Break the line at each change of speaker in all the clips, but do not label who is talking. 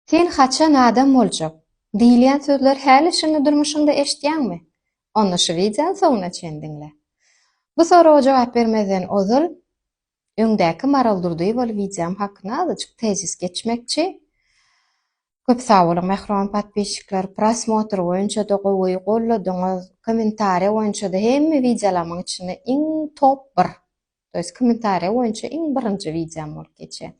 Sen haçan adam boljak? diýilýän sözleri häli şindi durmuşyňda eşitýäňmi? Onda şu wideony soňuna çen diňle. Bu soraga jogap bermezden ozal, öňdäki Maral Durdyýewaly wideom hakynda azajyk tezis geçmekçi. Köp sag boluň mähriban podpisçikler, prosmotr boýunça-da gowy golladyňyz, kommentariýa boýunça-da hemme wideolarymyň içinde iň top bir. To jest kommentariýa boýunça iň birinji wideom bolup geçýär.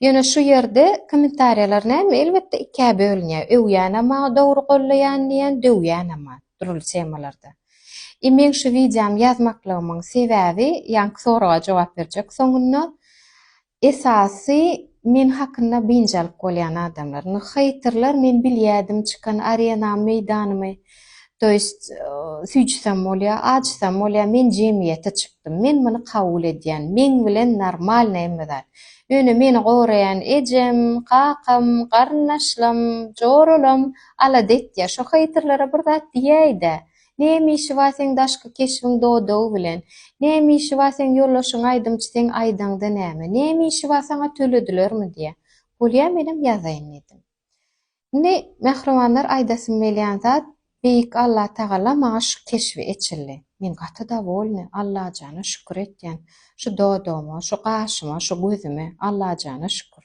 Ýöne şu ýerde kommentariýalar näme elbetde ikä bölünýär, öwýänem bar dogry gollaýan diýen, döwýänem bar dürli temalarda. I meň şu wideom ýazmaklygymyň sebäbi ýaňky soraga jogap berjek soňunda Esasy men hakynda biynjalyk bolýan adamlar. Indi heýterler men bilýädim çykan arenamy meýdanymy to ýest süýjsem bolýa açsam bolýa men jemgyýete çykdym men muny kabul edýän meň bilen normalny hemme zat ýöne meni goraýan ejem kakam garyndaşlam joralam alada etýä şo heýterlere bir zat diýäýdä Näme işi bar seň daşky keşbiň dodagy bilen? Näme işi bar seň ýoldaşyň aýdymçy seň aýdaňda näme? Näme işi bar saňa töledilermi diýýär. Bolýa menem ýazaýyn diýdim. Indi mähribanlar aýdasym gelýän zat Beýik Alla Tagala maňa şu keşbi eçildi. Men gaty dowolny, Allajana şükür etýän. Şu dodagyma, şu gaşyma, şu gözüme, Allajana şükür.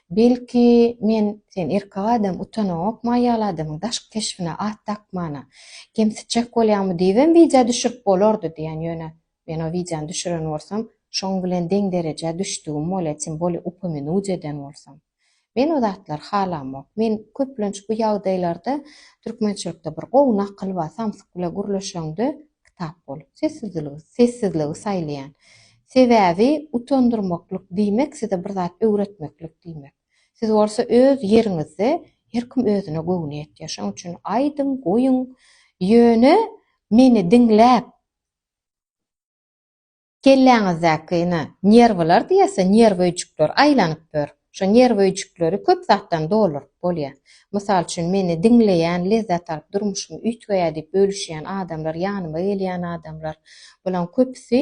Belki, men, sen erkek adam, utanaňokmy aýal adamyň daşky keşbine at dakmana? Kemsitjek bolýaňmy diýibem wideo düşürip bolardy diýen, ýöne men o wideony düşüren bolsam, şoň bilen deň derejä düşdügim bolýa, tim bolýa upomenuje eden bolsam. Men o zatlary halamok. Men köplenç bu ýagdaýlarda, türkmençilikde bir gowy nakyl bar, samsyk bilen gürleşeňde, kitap bolup, sessizligi, sessizligi saýlaýan. Sebäbi utandyrmaklyk diýmek size bir zat öwretmeklik diýmek. Siz bolsa öz ýeriňizde, her kim özüne göwni ýetýär. Şonuň üçin aýdyň, goýuň, ýöne meni diňläp, Kelläňizdäki ine, nerwlar diýersiň, nerw öýjükler aýlanyp ýör. Şo nerw öýjükleri köp zatdan dolduryp bolýar. Mysal üçin, meni diňleýän, lezzet alyp, durmuşymy üýtgeýär diýip bölüşýän adamlar, ýanyma gelýän adamlar, bularyň köpüsi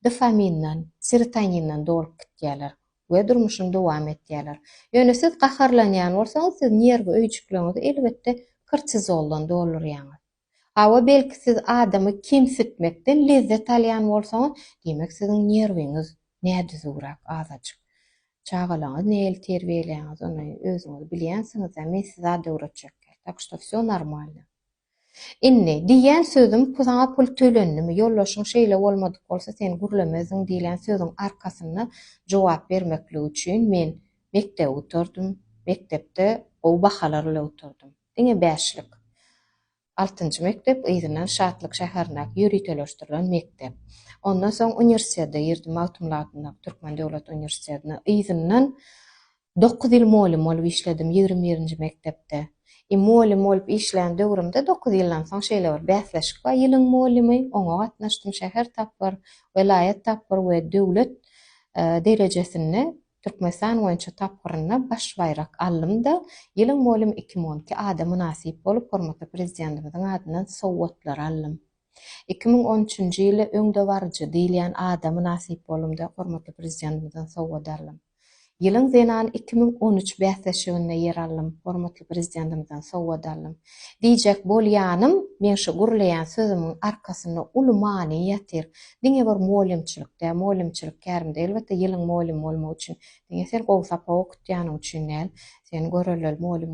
dofaminden, serotoninden dolup gitýärler we durmuşyny dowam etýärler. Ýöne siz gaharlanýan bolsaňyz, siz nerw öýjükleriňizi elbetde kortizoldan doldurýaňyz. Hawa, belki siz adamy kemsitmekden lezzet alýan bolsaňyz, diýmek siziň nerwiňiz nädüzüwräk azajyk. Çagalaňyzy nähili terbiýeleýäňiz, ony özüňiz bilýänsiňiz-ä, men sizi zat öwretjekgä, tak što vsё normalno. Indi, diýýän sözüm, saňa pul tölendimi, ýoldaşyň şeýle bolmadyk bolsa sen gürlemezdiň diýlen sözüň arkasynda jogap bermeklik üçin men mekdebi gutardym, mekdepde gowy bahalar ile gutardym. Diňe bäşlik. Altynjy mekdep yzyndan Şatlyk şäherindäki ýöriteleşdirilen mekdep. Ondan soň uniwersitete girdim, Magtymguly adyndaky Türkmen döwlet uniwersitetine. Yzyndan dokuz ýyl mugallym bolup işledim, ýigrimi birinji mekdepde. I mugallym bolup işlän döwrümde dokuz ýyldan soň şeýle bir bäsleşik bar, ýylyň mugallymy, oňa gatnaşdym, şäher tapgyr, welaýat tapgyr we döwlet derejesinde Türkmenistan boýunça tapgyrynda baş baýrak alym-da, Ýylyň mugallym iki müň on iki ada mynasyp bolup, hormatly Prezidentimiziň adyndan sowgatlary aldym. Iki müň on üçünji ýyly öňdebaryjy diýilýän ada mynasyp boldum-da, hormatly Prezidentimizden sowgat aldym. Ýylyň zenany iki müň on üç bäsleşiginde ýer aldym, hormatly Prezidentimizden sowgat aldym. Diýjek bolýanym, meň şu gürleýän sözümiň arkasynda uly many ýatyr. Diňe bir mugallymçylyk däl, mugallymçylyk kärimde elbetde ýylyň mugallymy bolmak üçin, diňe sen gowy sapak okutýanyň üçin däl, sen görelleli mugallym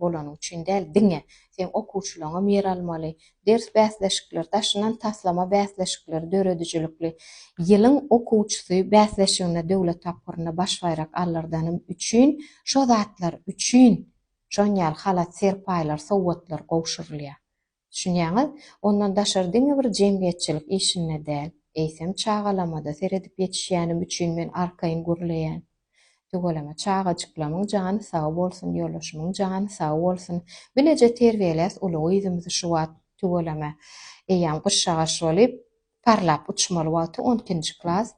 bolanyň üçin däl, diňe seň okuwçylaryňam ýer almaly, ders bäsleşikleri, daşyndan taslama bäsleşikleri, döredijilikli Ýylyň okuwçysy bäsleşiginde döwlet tapgyrynda baş baýrak alyrdanym üçin şo zatlar üçin şonýaly halat-serpaýlar, sowgatlar gowşurylýar. Düşünýäňiz? Ondan daşary diňe bir jemgyýetçilik işinde däl, eýsem çagalamada seredip ýetişýänim üçin men arkaýyn gürleýän. Tüweleme çagajyklamyň jany sag bolsun, ýoldaşymyň jany sag bolsun. Bileje terbiýeläs uly gyzymyzy şu wagt, tüweleme, eýýäm gyşagaş bolup, Parlap uçmaly wagty on ikinji klas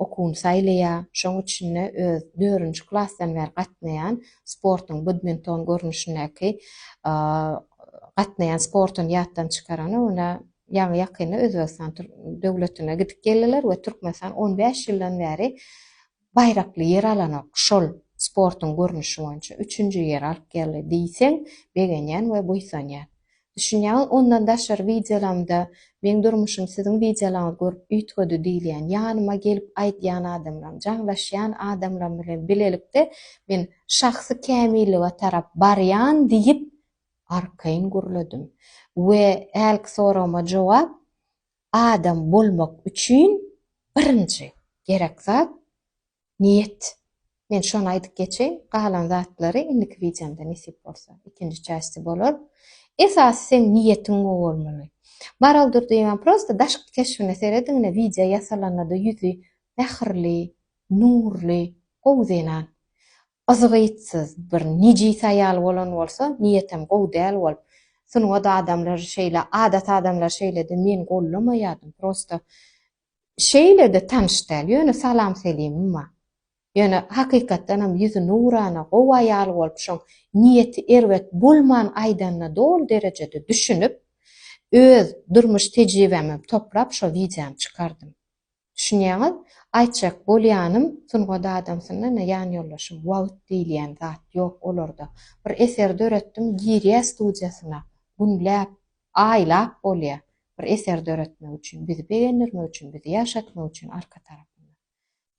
okuwyny saýlaýar. Şoň üçin-de öz dördünji klasdan bäri gatnaýan sportuň badminton görnüşindäki gatnaýan sportuny ýatdan çykaran ony ýaňy ýakynda Özbegistan döwletine gidip geldiler we Türkmenistan on bäş ýyldan bäri baýrakly ýer alanok, şol sportuň görnüşi boýunça üçünji ýeri alyp geldi diýseň, begenýän we buýsanýan. Düşünýäňiz, ondan daşary wideolaňda Meň durmuşym siziň wideolaňyzy görüp üýtgedi diýilýän, ýanyma gelip aýdýan adamlaryň, jaňlaşýan adamlaryň bilen bilelikde men şahsy kämillige tarap barýan diýip arkaýyn gürledim. We hälki soragyma jogap, Adam bolmak üçin birinji gerek zat niýet. Men şony aýdyp geçeýin, galan zatlary indiki wideomda nesip bolsa, ikinji çästi bolar. Esasy seň niýetiň gowy bolmaly. Maral Durdyýewa prosta daşky keşbine serediň ine wideo ýasalanada ýüzi mähirli, nurly, gowy zenan. Yzgytsyz bir nejis aýal bolan bolsa niýetem gowy däl bolup sungat adamlar şeýle adat adamlar şeýlede men gollamaýadym prosta şeýlede tanyş däl ýöne salam selimim bar ýöne hakykatdanam ýüzi nurana gowy aýal bolup şoň niýeti erbet bolman aýdanyna doly derejede düşünip öz durmuş tejribämem toplap şo wideony çykardym. Düşünýäňiz? Aýtjak bolýanym, sungat adamsyna-da, ýan ýoldaşym, wagt diýilýän zat ýok olarda. Bir eser döretdim, girýä studiýasyna, günläp, aýlap bolýa. Bir eser döretmek üçin, bizi begendirmek üçin, bizi ýaşatmak üçin arka tarapynda.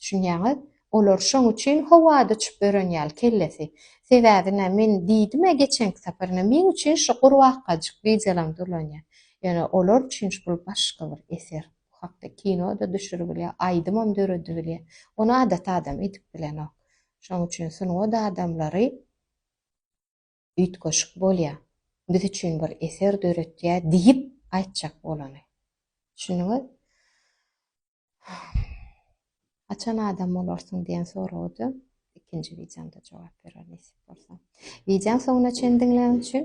Düşünýäňiz? Olar şoň üçin howada uçup ören ýaly kellesi. Sebäbi-nä, men diýdim-ä geçenki sapar, ine, meň üçin şu gurbakajyk wideolaryň dolanýa. Ýöne olar üçin bul başga bir eser. Bu hakda kino-da düşüribilýär, aýdymam döredibilýär. Ony adaty adam edip bilenok. Şonuň üçin sungat adamlary üýtgeşik bolýar. Biz üçin bir eser döretýär diýip aýtjak bolany. Düşündiňiz? Haçan adam bolarsyň diýen soraga-da ikinji wideomda jogap berer nesip bolsa. Wideony soňuna çenli diňläniň üçin